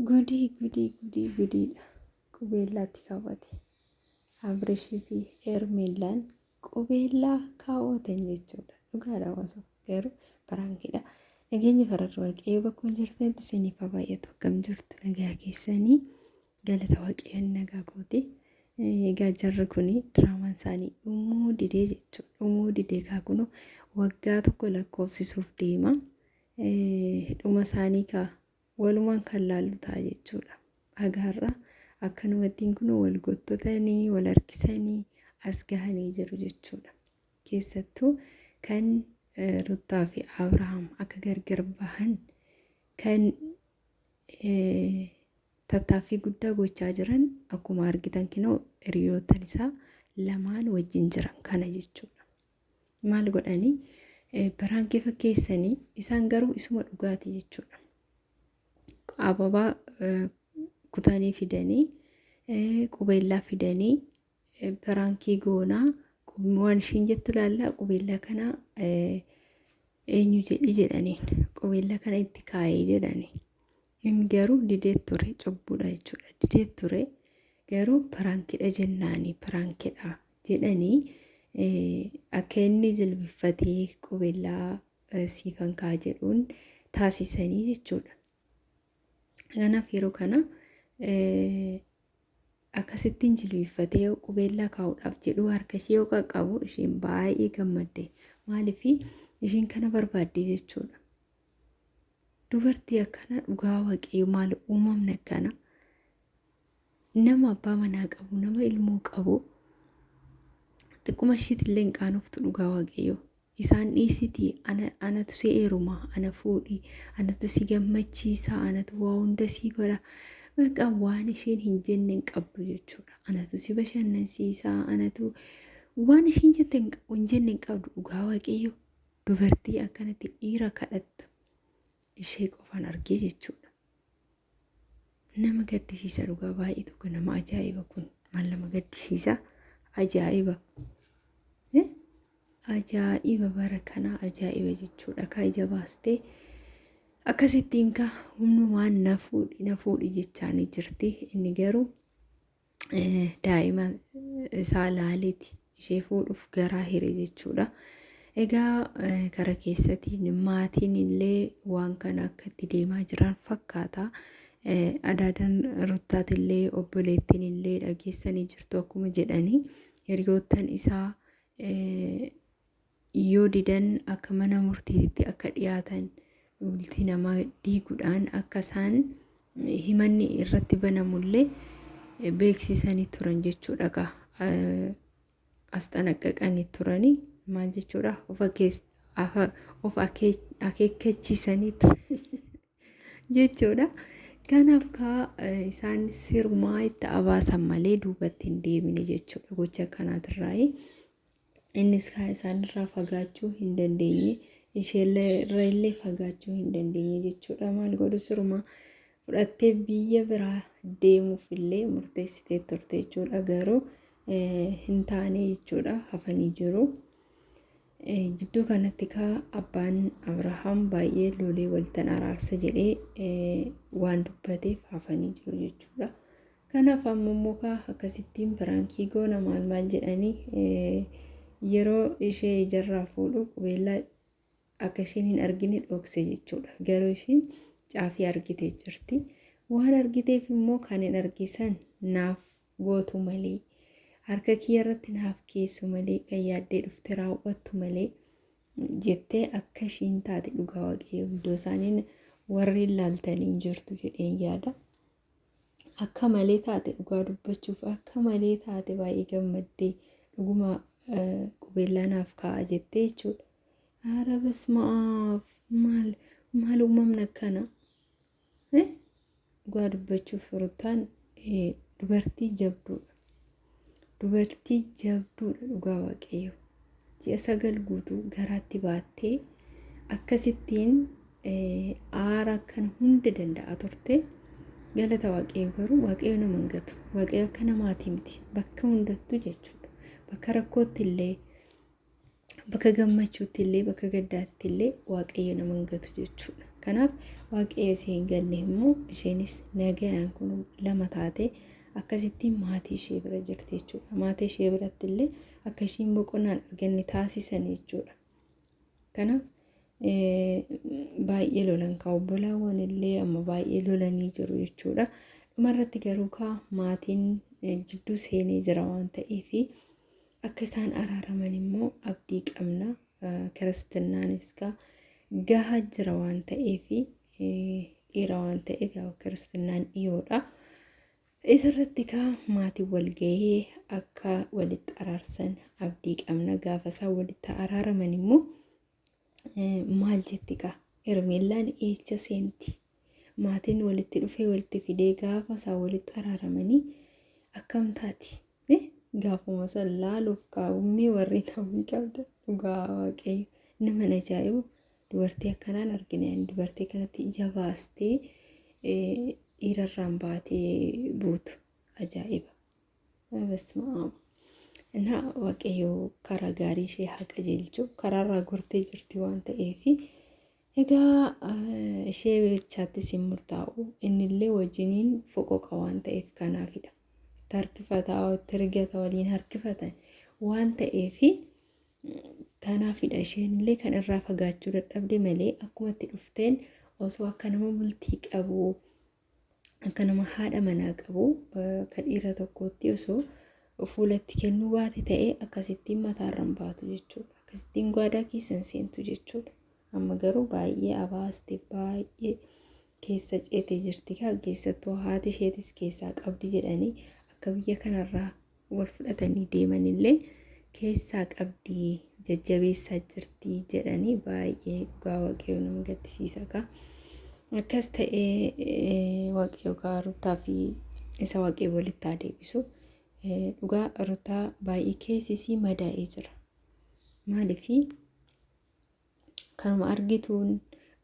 Gudii gudii gudii gudiidha. Qubeellaatti kaawwate. Abirishii fi Eermeellaan qubeellaa kaawwatan jechuudha. Dhugaadha osoo garuu baraankiidha. Nageenyi fararra waaqayyoo bakkuma jirtanitti isiniif haa baay'atu akkam jirtu nagaa keessanii galata waaqayyoon nagaa kooti. Egaa jarri kun diraamaan isaanii dhumuu didee jechuudha. Dhumuu didee kaa kunoo waggaa tokko lakkoofsisuuf deema. Dhuma isaanii kaa walumaan kan laallu ta'a jechuudha. Haga har'a akkanumattiin kun wal gottotanii, wal harkisanii as gahanii jiru jechuudha. Keessattuu kan Ruttaa fi Abrahaam akka gargar bahan kan tattaaffii guddaa gochaa jiran akkuma argitan kinoo hiriyoottan isaa lamaan wajjin jiran kana jechuudha. Maal godhani baraankii fakkeessanii isaan garuu isuma dhugaati jechuudha. Ababaa kutanii fidanii qubeellaa fidanii baraankii goonaa waan ishiin jettu laallaa qubeellaa kana eenyu jedhi jedhaniin qubeellaa kana itti kaa'ee jedhanii. Inni garuu didee ture cubbuudha jechuudha. Didee ture garuu baraankidha jennaani baraankidha jedhanii akka inni jilbiffatee qubeellaa siifan kaa jedhuun taasisanii jechuudha. Kanaaf yeroo kana akkasittiin jilbiffatee yoo qubeellaa kaa'uudhaaf jedhu harka ishee yoo qaqqabu isheen baay'ee gammadde maaliif isheen kana barbaadde jechuudha. Dubartii akkana dhugaa waaqayyo maal uumamni akkana. Nama abbaa manaa qabu, nama ilmoo qabu xiqquma ishiitillee hin qaanoftu dhugaa waaqayyo. Isaan dhiisitii ana, anatu si eeruma, ana fuudhi, anatu si gammachiisa, anatu waa hunda si godha. Baqa waan isheen hin jenne hin qabdu jechuudha. Anatu si bashannansiisa, anatu waan isheen jette hin qa- hin jenne hin qabdu dhugaa waaqayyo. Dubartii akkanatti dhiira kadhattu ishee qofaan argee jechuudha. Nama gaddisiisa dhugaa baay'ee tokko nama ajaa'iba kun maal nama gaddisiisa ajaa'iba. Eh? Ajaa'iba bara kanaa ajaa'iba jechuudha kaa ija baastee akkasittiin kaa humnumaan na fuudhi na fuudhi jechaanii jirti inni garuu daa'ima isaa laaleeti ishee fuudhuuf garaa hire jechuudha. Egaa kara keessatiin maatiin illee waan kana akka itti deemaa jiran fakkaata. Adaadan ruttaati illee obboleettiin illee dhageessanii jirtu akkuma jedhanii hiriyoottan isaa Yoo didan akka mana murtiititti akka dhiyaatan bultii namaa diigudhaan akka isaan himanni irratti banamullee beeksisanii turan jechuudha gaa asxanaqaqanii turanii maal jechuudha of akees afa of akee akeekkachiisaniitti jechuudha. Kanaaf kaa isaan sirumaa itti abaasan malee duubatti hin deebine jechuudha gocha kanaatirraayi. Innis kaa isaanirraa fagaachuu hin dandeenye. Isheellee irra illee fagaachuu hin dandeenye jechuudha. Maal godhu sirumaa fudhattee biyya biraa deemuuf illee murteessitee turte jechuudha. Garuu hin taane jechuudha hafanii jiru. Jidduu kanatti kaa abbaan Abrahaam baay'ee lolee waltan araarsa jedhee waan dubbateef hafanii jiru jechuudha. Kanaaf amma immoo kaa akkasittiin piraankii goona maal maal jedhanii yeroo ishee ijarraa fuudhu qubeellaa akka isheen hin argine dhokse jechuudha. Garuu isheen caafii argitee jirti. Waan argiteef immoo kan hin argisan naaf gootu malee harka kiyya irratti naaf keessu malee kan yaaddee dhufte raawwattu malee jettee akka ishiin taate dhugaa waaqayyoo iddoo isaaniin warri ilaaltanii jirtu jedheen yaada. akka malee taate dhugaa dubbachuuf akka malee taate baay'ee gammaddee dhuguma qubeellaa naaf kaa'a jettee jechuudha. Haara basmaaf maal maal uumamna akkana dhugaa dubbachuuf ruttaan dubartii jabduudha. Dubartii jabduudha dhugaa waaqayyo. Ji'a sagal guutuu garaatti baattee akkasittiin aara kan hunda danda'a turte. Galata waaqayyo garuu waaqayyo nama hin gatu. Waaqayyo akka namaatii miti. Bakka hundattuu jechuudha. Bakka rakkootti illee Bakka gammachuutti illee bakka gaddaatti illee waaqayyo nama hin gatu jechuudha. Kanaaf waaqayyo ishee hin ganne immoo isheenis nagayaan kun lama taatee akkasitti maatii ishee bira jirti jechuudha. Maatii ishee biratti illee akka isheen boqonnaan arganne taasisan jechuudha. Kanaaf baay'ee lolan kaa obbolaawwan illee amma baay'ee lolanii jiru jechuudha. Dhumarratti garuu kaa maatiin jidduu seenee jira waan ta'eefi. Akka isaan araaraman immoo abdii qabna. Kiristinnaanis gaa gahaa jira waan ta'eef dhiira waan ta'eef yaa kiristinnaan dhiyoodha. Isarratti kaa maatiin wal gahee akka walitti araarsan abdii qabna. Gaafa isaan walitti araaraman immoo Maal jetti kaa Hermeellaan eecha seenti maatiin walitti dhufee walitti fidee gaafa isaa walitti araaramanii akkam taati gaafuma san laaluuf kaa'ummee warri namni qabda dhugaa waaqayyo nama na ajaa'ibu dubartii akkanaan argine ani dubartii kanatti ija baastee dhiirarraan baatee buutu ajaa'iba. በስመ አብ እና waaqayyo karaa gaarii ishee haa qajeelchu karaarraa gortee jirti waan ta'eef egaa eh, ishee jechaattis hin murtaa'u innillee wajjiniin foqoqa waan ta'eef kanaafidha itti harkifataa itti rigata waliin harkifatan waan ta'eef kanaafidha isheenillee kan irraa fagaachuu dadhabde malee akkuma itti dhufteen osoo akka nama bultii qabu akka nama haadha manaa qabu ka dhiira tokkootti osoo fuulatti kennuu baate ta'ee akkasittiin mataarran baatu jechuudha. Akkasittiin gwaadaa keessan seentu jechuudha. Amma garuu baay'ee abaaste baay'ee keessa ceete jirti kaa keessattuu haati isheetis keessaa qabdi jedhanii akka biyya kanarraa wal fudhatanii deemanillee keessaa qabdi jajjabeessaa jirti jedhanii baay'ee dhugaa waaqayyo nama gaddisiisa kaa akkas ta'ee waaqayyo kaa ruttaa fi isa waaqee walitti haa deebisu dhugaa ruttaa baay'ee keessisii madaa'ee jira maaliif kanuma argituun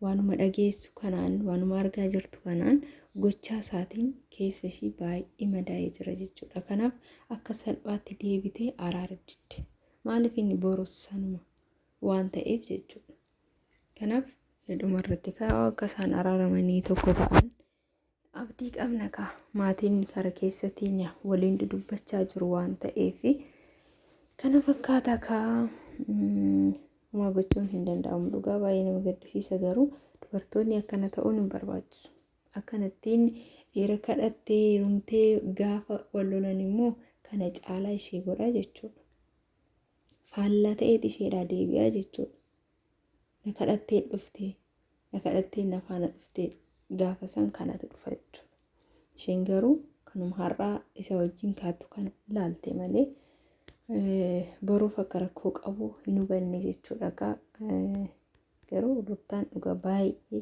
waanuma dhageessu kanaan waanuma argaa jirtu kanaan gochaa isaatiin keessa ishii baay'ee madaa'ee jira jechuudha. Kanaaf akka salphaatti deebitee araara didde. Maaliif inni borus sanuma waan ta'eef jechuudha. Kanaaf dhumarratti kaa'u akka isaan araaramanii tokko ta'an Abdii qabna kaa maatiin kara keessa teenya waliin dudubbachaa jiru waan ta'eef kana fakkaata kaa homaa gochuun hin danda'amu dhugaa baay'ee nama gaddisiisa garuu dubartoonni akkana ta'uun hin barbaachisu akkanattiin dhiira kadhattee heerumtee gaafa wal lolan immoo kana caalaa ishee godha jechuudha faallaa ta'eet isheedhaa deebi'aa jechuudha na kadhattee dhuftee na kadhattee na faana dhuftee gaafa san kanatu dhufa jechuudha. Isheen garuu kanuma har'aa isa wajjin kaattu kana ilaalte malee boruuf akka rakkoo qabu hin hubanne jechuudha. Garuu ruttaan dhugaa baay'ee